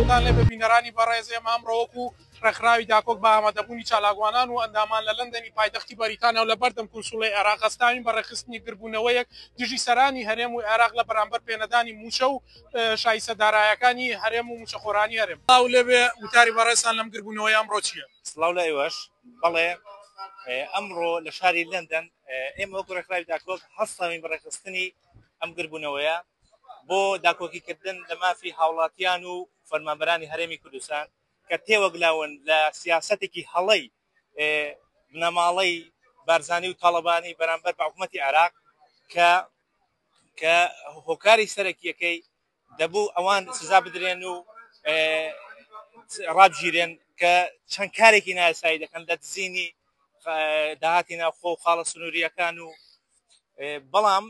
سڵاوتان لێبێ بینەرانی بەڕێز ئێمە ئەمڕۆوەک و ڕێکخراوی داکۆک بە ئامادەبوونی چالاکوانان و ئەندامان لە لەندەنی پایتەختی بەریتانیا و لە بەردەم کونسوڵی عێراق هەستاوین بە ڕێخستنی گربوونەوەیەک دژی سەرانی هەرێم و عێراق لە بەرامبەر پێنەدانی موچە و شایسە دارایەکانی هەرێم و موچەخۆرانی هەرێم ئەو لەبێ وتاری بەڕێسان لەم گربوونەوەی ئەمڕۆ چییە سلااو لایوەش بەڵێ ئەمڕۆ لە شاری لەندەن ئێمە وەکو ڕێکخراوی داکۆک هەستاوین بە ڕێکخستنی ئەم گربوونەوەیە بۆ داکۆکیکردن لە مافی هاوڵاتیان و فەرمانبەرانی هەرێمی کوردستان کە تێوەگلاون لە سیاسەتێکی هەڵەی بنەماڵەی بارزانی و تاڵەبانی بەرامبەر بە حکوومەتی عێراق کە کە هۆکاری سەرەکیەکەی دەبوو ئەوان سزا بدرێن و ڕابگیرێن کە چەند کارێکی نایاسایی دەکەن لە دزینی داهاتی ناوخۆ و خاڵە سنووریەکان و بەڵام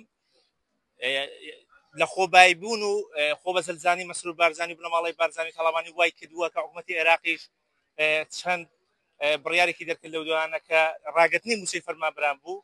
لە خۆبایی بوون و خۆ بە سەلزانی مەسرور بارزانانی و بنەماڵی بارزانانی تەڵامانی وای کردووە کە حکوومەتی عێراقیش چەند بڕیارێکی دەرکرد لەو دوانە کە ڕاگرتنی مووچەی فەرمانبران بوو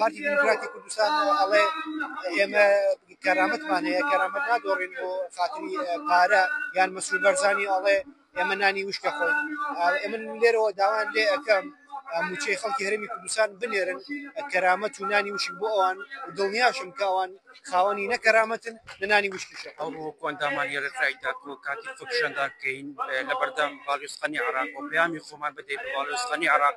پارتی دیموکراتی کوردستان ئەڵێ ئێمە کەرامەتمان هەیە کەرامەت نادۆڕین بۆ خاتری پارە یان مەسرور بەرزانی ئەڵێ ئێمە نانی وشکە خۆی ئەمن لێرەوە داوان لێ ئەەکەم موچەی خەڵکی هەرمی کوردستان بنێرن کەرامەت و نانی وشک بۆ ئەوان دڵنیاشم کە ئەوان خاوەنی نەکەرامەتن لەنانی وشکیشە ئەو ڕۆکۆندامان یێرەکرای تاکۆ کاتی فکشەنداکەین لە بەردەم باڵوێزخانی عراق و پەیامی خۆمان بدەین باڵوێزخانی عراق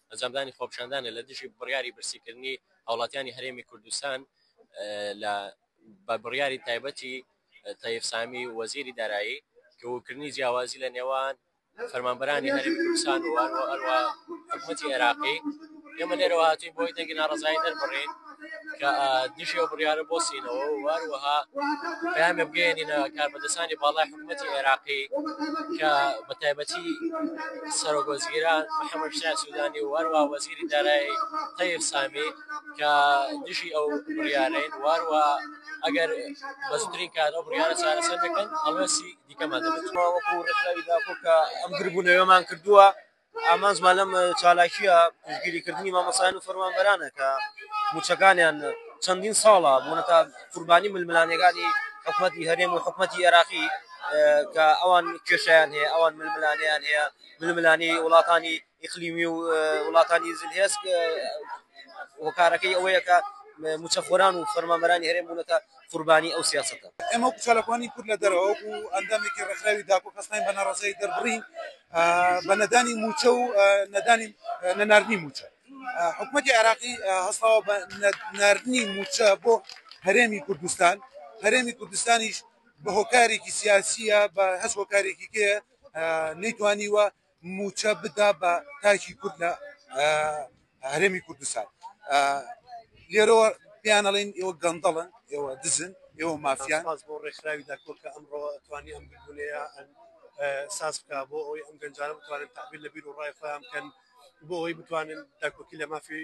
ئەنجامدانی خۆپیشاندانە لە دژی بڕیاری برسیکردنی هاوڵاتیانی هەرێمی کوردستان لە بە بڕیاری تایبەتی تەیف سامی وەزیری دارایی کەوکردنی جیاوازی لە نێوان فەرمانبەرانی هەرێمی کوردستان و هەروە حکومەتی عێراقی ئێمە لێرەوە هاتوین بۆی دەنگی ناڕەزایی دەربڕین کە دژی ئەو بڕیارە بۆسینەوە و هەروەها پامێ بگەێنینە کاربەدەسانی باڵای حکوومەتی عێراقی کە بە تایبەتی سەرۆگۆزگیران محەممەد شای سوودانی و هەروە وەزیری دارایی تەیف سامی کە دژی ئەو بڕیارەین واروە ئەگەر بەزترین کار ئەو بڕیارە چارەسەر دەکەن ئەڵەسی دیکەمان دەبێت وەکو ڕێکخراوی داکۆ کە ئەم گربوونەوەمان کردووە ئامانجمان لەم چالاکییە پشتگیریکردنی مامۆستایان و فەرمانبەرانە کە مووچەکانیان چەندین ساڵە بوونەتە قوربانی ململانێگانی حکومەتی هەرێم و حکومەتی ئێراقی کە ئەوان کێشەیان هەیە ئەوان ململانێیان هەیە ململانێی وڵاتانی ئیقلیمی و وڵاتانی زلهێز هۆکارەکەی ئەوەیە کە مووچەخۆران و فەرمانبەرانی هەرێم بوونەتە قوربانی ئەو سیاسەتە. ئێمە وەکو چالاکوانی کورد لە دەرەوە وەکو ئەندامێکی ڕێکخراوی داکۆ هەستاین بە ناڕەزایی دەربڕین بە نەدانی مووچە و نەدانی نەناردنی مووچە. حکومەتی عێراقی هەستاوە بە نەناردنی مووچە بۆ هەرێمی کوردستان، هەرێمی کوردستانیش بە هۆکارێکی سیاسییە بە هەچ هۆکارێکیکەیە نەیتوانیوە موچە بدا بە تاکی کورد لە هەرێمی کوردستان لێرەوە پێیان ئەڵێن ئێوە گەندەڵن ئێوە دزن ئێوە مافیان باز بۆ ڕێکخراوی داکۆ کە ئەمڕۆ توانی ئەم ببوونەیە ساز بکە بۆ ئەوەی ئەم گەنجانە بتوانن تەعبیر لە بیر و ڕای خۆیان بکەن بۆ ئەوەی بتوانن داکۆکی لە مافی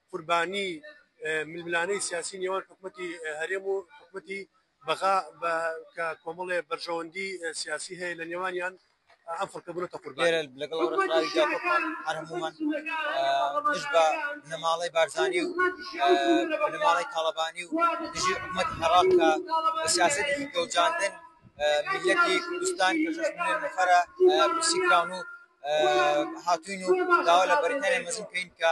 قوربانی ململانێی سیاسی نێوان حکومەتی هەرێم و حکومەتی بەغا بە کە کۆمەڵێ بەرژەوەندی سیاسی هەیە لە نێوانیان ئەم خەڵکە بوونەتە قوربانی. لێرە لەگەڵ ئەو ڕێکخراویدا کۆکمان هەر هەموومان دژ بە بنەماڵەی بارزانی و بنەماڵەی تاڵەبانی و دژی حکومەتی عێراق کە بە سیاسەتێکی گەوجاندن میللەتی کوردستان کە شەش ملیۆن نەفەرە برسی کراون و هاتووین و داوا لە بەریتانیای مەزن کەین کە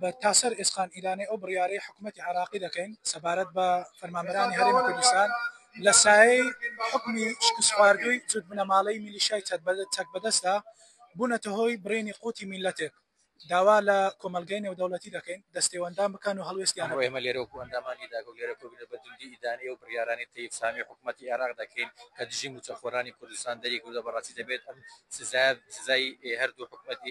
بە تاسەر ئێسقان ئیلانێ ئەو بڕیارەی حکومەتی عێراقی دەکەین سەبارەت بە فەرمانبەرانی هەرێمی کوردستان لە سایەی حکومی شکستخواردووی جوت بنەماڵەی میلیشای چەکبەدەستدا بوونەتە هۆی بڕینی قوتی میللەتێک داوا لە کۆمەڵگەی نێودەوڵەتی دەکەین دەستێوەندان بکەن و هەڵوێستیان بۆ ئێمە لێرە وەکو ئەندامانی داگەو لێرە کۆبنە بە توندی ئیدانەی ئەو بڕیارانەی تەیب سامی حکومەتی عێراق دەکەین کە دژی موچەخۆرانی کوردستان دەریکردوە بەڕاستی دەبێت ئەم سزایە سزای هەردوو حکومەتی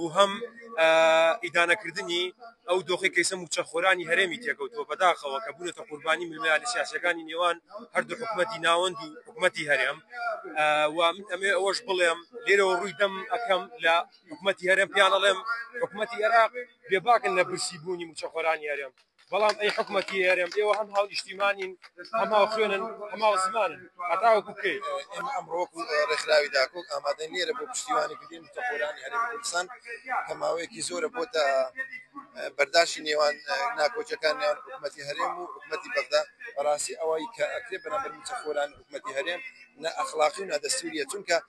و هەم ئیدانەکردنی ئەو دۆخەی کە ئیستا مووچەخۆرانی هەرێمی تێکەوتووە بەداخەوە کە بوونەتە قوربانی ململانێ سیاسییەکانی نێوان هەردوو حکومەتی ناوەند و حکومەتی هەرێم و من ئەمەوێ ئەوەش بڵێم لێرەوە ڕووی دەم ئەکەم لە حکومەتی هەرێم پێیان ئەڵێم حکومەتی ئێراق بێباکن لە برسی بوونی مووچەخۆرانی هەرێم. بەڵام ئەی حکومەتی هەرێم ئێوە هەم هاونیشتیمانین هەم هاوخوێنن هەم هاوزمانن هەتاوەکو کەی؟ ئێمە ئەمڕۆ وەکو ڕێکخراوی داکۆک ئامادەین لێرە بۆ پشتیوانیکردنی موچەخۆرانی هەرێمی کوردستان کە ماوەیەکی زۆرە بۆتە بەرداشی نێوان ناکۆکیەکان نێوان حکومەتی هەرێم و حکومەتی بەغدا بەڕاستی ئەوەی کە ئەکرێ بەرامبەر موچەخۆرانی حکومەتی هەرێم نائەخلاقی و نادەستوریە چونکە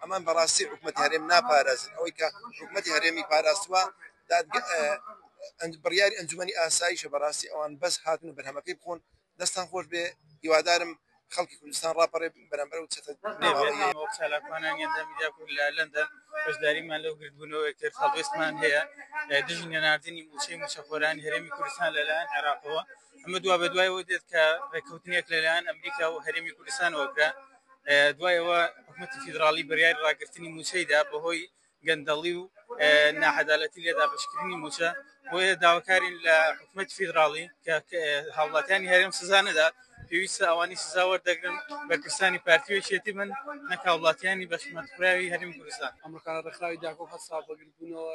ئەمان بەڕاستی حکومەتی هەرێم ناپارێزن، ئەوەی کە حکومەتی هەرێمی پاراستوە دادگا بڕیاری ئەنجومەنی ئاسایشە، بەڕاستی ئەوان بەس هاتنە بەرهەمەکەی بخۆن، دەستتان خۆش بێ هیوادارم خەڵکی کوردستان ڕاپەڕێ بەرامبەر ئەو چەتە نێوەندیە. وەک چالاکوانانی ئەندام میدیا کورد لە لەندەن بەشداریمان لەو گردبوونەوەی کرد، هەڵوێستمان هەیە دژی نەناردنی مووچەی مووچەخۆرانی هەرێمی کوردستان لەلایەن عێراقەوە، ئەمە دوا بە دوای ئەوە دێت کە ڕێککەوتنێک لەلایەن ئەمریکا و هەرێمی کوردستانەوە کرا دوایەوە حکوومەتی فیدراڵی بڕیاری ڕاگررتنی موچەیدا بەهۆی گەندەڵی و ناحەدالەتی لێ دابشکردنی موچە بۆیە داواکارین لە حکوومەت فیدراڵی کە هاوڵاتیانی هەرێم سزا نەدات پێویستە ئەوانی سزا وەردەگرن بەرپرسانی پارتیوێکێتی من نەکاوڵاتیانی بەشمەتخراوی هەرمی کوردستان ئەمەکان ڕێکخراوی داکۆ هەستا بەگربوونەوە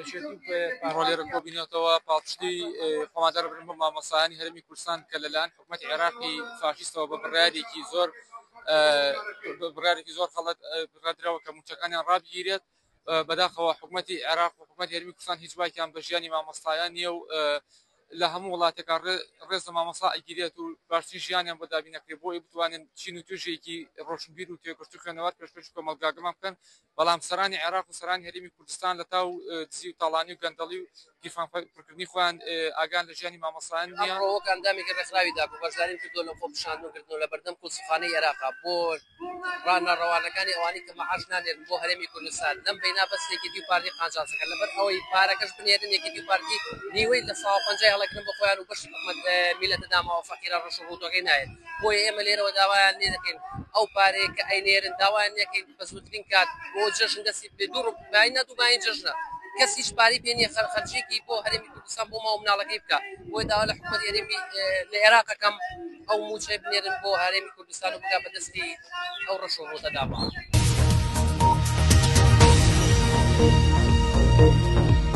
یەکێتی و پارۆلێرە کۆبینەتەوە پاڵپشتی خۆمان دەربرن بۆ مامۆسایانی هەرمی کوردستان کە لەلایەن حکومەت عێراقی فاشیستەوە بە بڕارێکی زۆر بڕارێکی زۆر خەڵەت بڕدرەوە کە موچەکانیان ڕابگیرێت بەداخەوە حکومەتی عێراق و حکومەت هەرمی کوردستان هیچ باکیان بە ژیانی مامۆستایان نییە و لە هەموو وڵاتێکا ڕێز لە مامۆسا ئەگیرێت و باشترین ژیانیان بۆ دابینەکرێت بۆی بتوانن چین و توێژێکی ڕۆشنبیر و توێکشت و خوێنەوار پێشکەش کۆمەڵگاگەمان بکەن بەڵام سەرانی عێراق و سەرانی هەرێمی کوردستان لە تاو و دزی و تاڵانی و گەندەڵی و گیرفان پڕکردنی خۆیان ئاگان لە ژیانی مامۆستایان نییە. ئەمڕۆ وەک ئەندامێکی ڕێکخراوی داکۆ بەشداریم کردووە لە خۆپیشاندن و گرتنەوە لە بەردەم کونسوڵخانەی عێراق بۆ ڕاننە ڕەوانەکانی ئەوانەی کە مەعاش نانێرن بۆ هەرێمی کوردستان لەم بەینا بەس یەکێتی و پارتی قانجاز دەکەن لەبەر ئەوەی پارەکەش بنێرن یەکێتی و پارتی نیوەی لە سەوا پەنجای هەڵەگرن بۆ خۆیان و بەشی حکومەت لەم میلەتە داماوە فەقیرە ڕەش و ڕووتەکەی نایەت بۆیە ئێمە لێرەوە داوایان لێ دەکەین ئەو پارەیە کە ئەینێرن داوایان لێ دەکەین بە زووترین کات بۆ جەژن دەستی بێ دوو ڕوب باین نە دوو باین جەژنە کەس هیچ پارەی پێ نییە خەر خەرجیەکی بۆ هەرێمی کوردستان بۆ ماوە مناڵەکەی بکە بۆی داوا لە حکومەت هەرێمی لە عێراقەکەم ئەو موچەی بنێرن بۆ هەرێمی کوردستان و بگا بە دەستی ئەو ڕەش و ڕۆتە دابا.